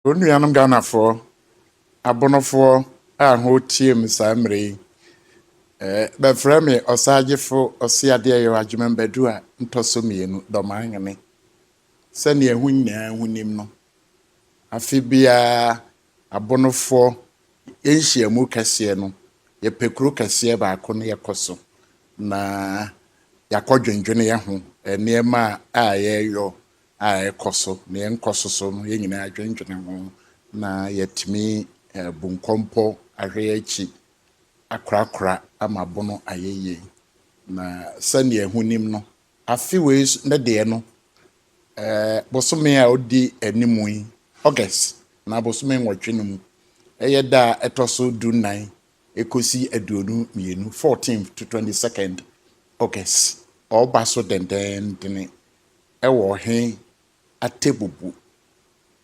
Wɔn nuanom Ghanafoɔ, abonofoɔ a ho teɛ mu saa mmerɛ yi, eh, bɛfrɛ me ɔsaagyefo ɔseadeɛ yɛ adwemam badu a ntɔ so mmienu dɔmaa hene. Sɛdeɛ ho nyinaa ho nim no, afe biara Abonofoɔ, yɛn nhyiamu kɛseɛ no, yɛpɛ kuro kɛseɛ baako na yɛkɔ so na yɛakɔ dwendwene yɛ ho, nneɛma a yɛreyɔ a ɛkɔ so na yɛn nkɔ so so no, yɛn nyinaa adwendwene ho na yɛatumi abu nkɔmpɔ, ahwɛ yɛn akyi, akorakora ama abono ayɛ yie. Na sɛdeɛ ho nim no, Afe wei nso ne deɛ no, bosome a ɔdi anim yi, August, anaa bosome nwɔtwe no mu, ɛyɛ da a ɛtɔ so du nnan kɔsi aduonu mmienu, fourteenth to twenty second August. Ɔreba so dendendene wɔ ɔhe Atebubu,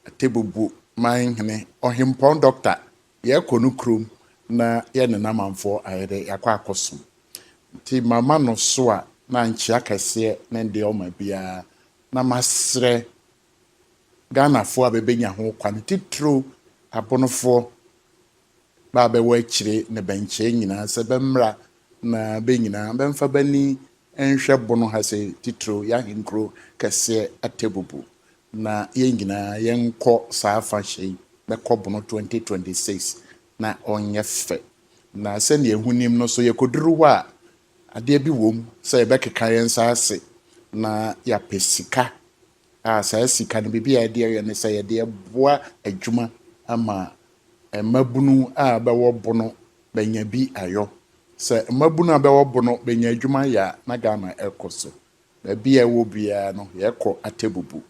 Atebubu manhene, Ɔhempɔn Dɔkta Yɛkɔ no kurom na yɛne Lamanfoɔ ayɛ dɛ yɛakɔ akɔsom. Nti mama no so a na nkyea kɛseɛ ne deɛ ɔma biara na masrɛ Ghanafoɔ a bɛbɛnya ho kwan titiro Abonofoɔ bɛ a bɛwɔ akyire ne bɛnkyɛɛ nyinaa sɛ bɛmmra na bɛ nyinaa bɛmfa bani nhwɛ Bono ha sɛ titiro yɛahenkuro kɛseɛ Atebubu na yɛn nyinaa yɛnkɔ saa afahyɛ yi bɛkɔ bono 2026 na ɔnyɛ fɛ na sɛnea ehu nim no so yɛkɔduru hɔ a adeɛ bi wom sɛ yɛbɛkeka yɛn nsa ase na yɛapɛ sika a saa sika no biribi a yɛde yɛ ne sɛ yɛde boa adwuma ama mmabunu a bɛwɔ bono bɛnya bi ayɔ sɛ mmabunu a bɛwɔ bono bɛnya adwuma yɛ a na Ghana ɛkɔ so Baabi a yɛwɔ biara no, yɛkɔ Atebubu.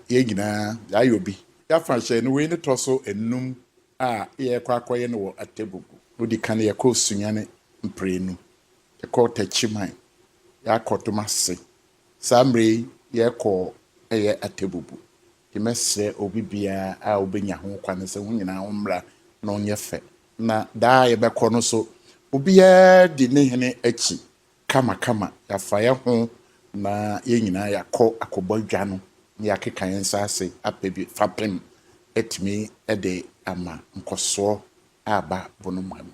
Yɛn nyinaa, yɛayɔ bi. Yɛafa hyɛn no, wei ne tɔ so nnum a yɛkɔ akɔyɛ no wɔ Atebubu. Odi kan yɛkɔɔ Sunyani mprenu. Yɛkɔɔ Takyiman. Yɛakɔ Domase. Saa mmerɛ yi yɛkɔ yɛ Atebubu. Nti mɛsrɛ obi biara a ɔbɛnya ho kwane sɛ ho nyinaa ho mmra na ɔnyɛ fɛ. Na daa a yɛbɛkɔ no nso, obiara di ne hene akyi. kamakama, yɛafa yɛn ho na yɛn nyinaa yɛakɔ akɔbɔ adwa no na yɛakeka yɛn nsa ase apɛ bi fapem atumi de ama nkɔsoɔ a aba Bonomoa mu.